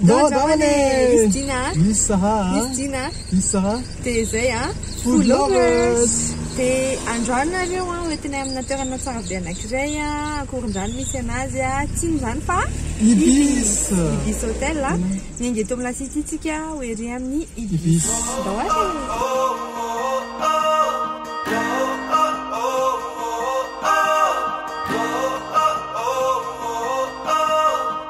Bon, Davane! Miss Gina. Miss Saha. Miss Gina. Miss Saha. Dia izay a. Food lovers. Dia androany nareo a, hoentinay amina toerana tsara be anankiray a, akorondrano misy anazy a, tsy inona izany fa Ibis. Ibis Hotel a. Miainga eto amin'ny lasity isika ho ery amin'ny Ibis. Ndao ary e.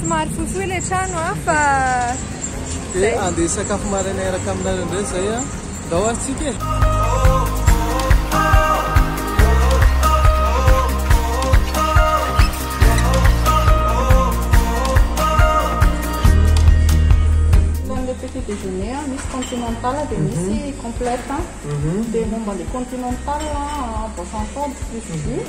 Somary fohifohy ilay trano an, fa... Dia andeha hisakafo maraina hiaraka aminareo indray izay an. Ndao ary tsika e! Ilay petit déjeuner an, misy continental dia misy complète. Dia momba ilay continental an, boisson chaude plus jus.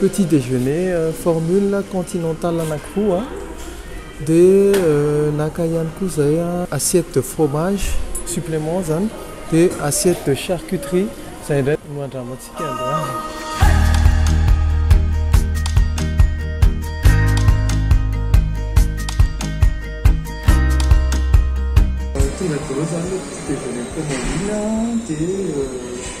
Petit déjeuner formule continentale anankiroa dia naka ihany koa izay assiette de fromage supplément izany dia assiette de charcuterie izay indray no andramantsika androany. Tonga daholo izany ilay petit déjeuner formule dia.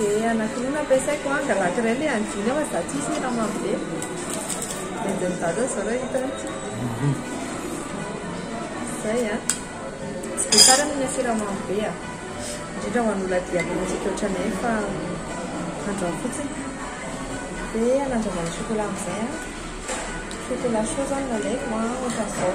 Dia anankiroa no ampiasaiko an, angalaiko iray ilay an'i Jly fa za tsy misy hira mamy be. Dia anjain'i dada izao raha hitany. Izay an. Tsy dia tsara ny mihinana sira mamy be an. Indrindra ho an'olona diabetesika ohatranay io fa androany fotsiny. Dia anandraman'ny chocolat amin'izay an. Chocolat chaud izao no nalaiko an, ohatran'izao.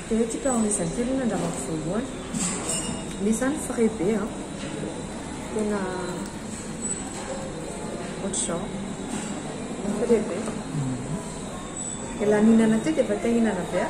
Dia ity ka ny zazakely ny angamba voalohany. Misy zany frais be a. Tena ohatr'izao. Frais be. Dia lanianana teo dia efa te hihinana be a.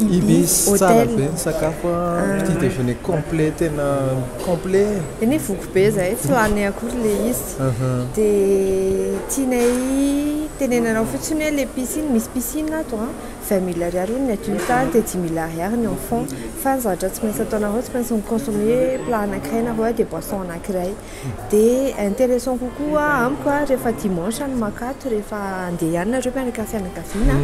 Ibis tsara be ny sakafo a, petit déjeuner complet tena complet e. Eny e voky be zahay tsy hoaniny akory le izy de tianay tenenanao fotsiny hoe le piscine misy piscine ato a vingt mille ariary hono ny adulte any de dix mille ariary ny enfant fa ny zavatra tsy maintsy ataonareo tsy maintsy mi-consommer plat anakiray nareo de boisson anakiray. Dia intéressant kokoa amiko rehefa dimanche no maka ato rehefa andeha ihany nareo miaraka fianakaviana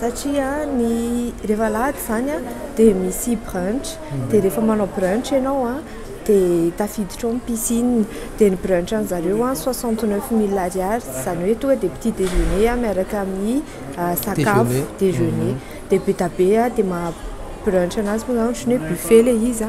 satria ny rehefa alahady izany dia misy brunch dia rehefa manao brunch ianao dia tafiditra ao ny piscine dia ny brunch an'ny zareo soixante neuf mille ariary izany hoe tonga dia petit déjeuner miaraka amin'ny sakafo déjeuner dia be dia be dia maha brunch anazy moa izany ohatran'ny hoe buffet ilay izy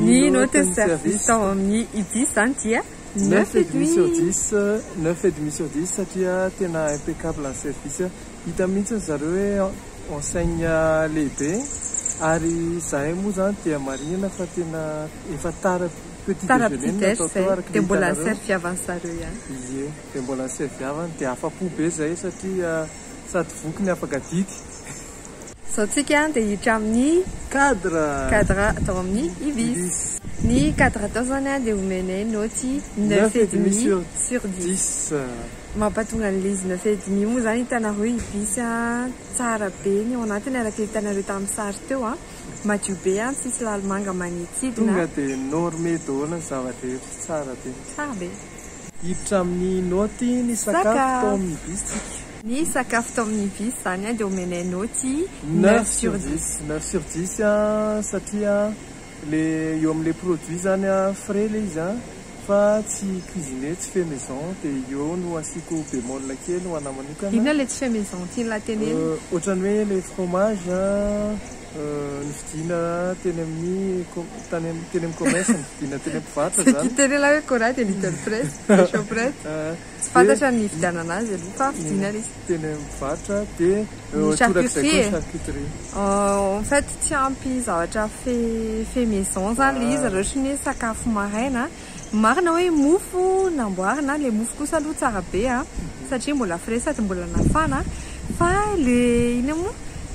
Ny note ny service tao amin'ny IDIS izany dia neuf et demi sur dix, neuf et demi sur dix satria tena impeccable ny service, hita mihitsy ry zareo hoe enseigne lehibe ary izahay moa izany dia marihina fa tena efa tara petit déjeuner no natao tao araka ny hitanareo, dia mbola ny servy havan'ny zareo ihany, ie, dia mbola ny servy havany, dia afa-po be izahay satria sady voky ny afaka adidy. Izao tsika dia hiditra amin'ny cadre cadre atao amin'ny ibis. Ny cadre atao izany dia omenay naoty neuf et demi sur dix. Mampatonga an'ilay izy neuf et demi moa izany hitanareo ibis a! Tsara be ny ao anatiny araka ny hitanareo tamin'ny sary teo a! Madio be a! Tsisy lalimanga manidintsidina a! Tonga dia normer daholo ny zava-drehetra, tsara be. Tsara be. Hiditra amin'ny naoty ny sakafo tao amin'ny bistsika. Ny sakafo tao amin'ny bis izany dia omenay naoty neuf sur dix. Neuf sur dix satria ilay eo amin'ilay produit izany frais ilay izy an, fa tsy cuisiner, tsy fait maison, dia eo no asiako bémol kely ho anahy manokana. Inona ilay tsy fait maison tian'ilay tenenina? Ohatran'ny hoe ilay fromage an. Nividiana teny amin'ny tany amin'ny teny amin'ny commerce nividiana teny am-pivarotra izany. Ity teny ilay hoe Cora dia Little Press, dia Shoprite. Tsy fantatra ny nividianana azy aloha fa vidiana ilay izy. Teny am-pivarotra dia Ny torak'izay koa ny charcuterie. charcuterie. Euh, en fait tsy ampy zavatra fait fait maison zany ilay izy raha ohatra ny hoe sakafo maraina. Marina hoe mofo namboarina, le mofo kosa aloha tsara be a, satria mbola frais sady mbola nafana, fa le inona moa?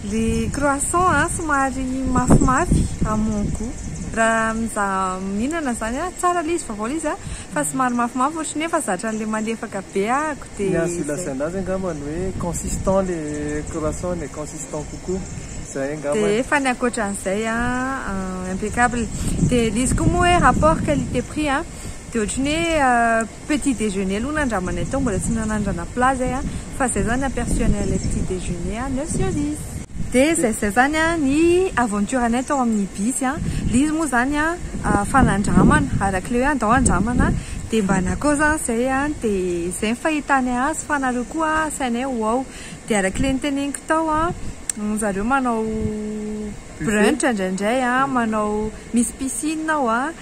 le croissant a somary mafimafy à mon gout, raha mizaha mihinana zany a, tsara le izy vaovao le izy a, fa somary mafimafy ohatry ny efa zatra anle malefaka be aho de zay. Ny azo ilazana azy angambany hoe consistant le croissant e, consistant. Temps kokoa. Zay angamba. Dia efa ny ankoatran'izay an, impeccable. Dia ilay izy koa moa hoe rapport qualité prix an, dia ohatran'ny hoe petit déjeuner aloha nandramanay tao, mbola tsy nanandrana plat zay an, fa zay zany aperçu anay ilay petit déjeuner an, neuf sur dix. Dia zay zay zany an ny aventure anay tao amin'ny bus an, ilay izy moa zany an fanandramana, arak'ilay hoe andao handramana an, dia mba na koa zany zay an, dia zay ny fahitanay azy, fa nareo koa an asainay ho ao. Dia araka ilay niteneniko tao an, ry zareo manao brunch indraindray an, manao misy piscine ao an,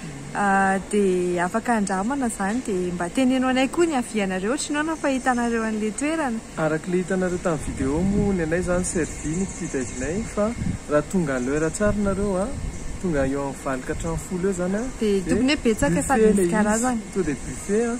dia afaka andramana izany dia mba teneno anay koa ny avianareo ohatry ny hoe nampahitanareo an'ilay toerana. Araka ilay hitanareo tamin'ny vidéo moa ny anay izany Serbie ny fitsidra anay fa raha tonga à l'heure tsara nareo an, tonga eo amin'ny valo ka hatramin'ny folo eo izany an, dia buffet ilay izy, tonga dia buffet an.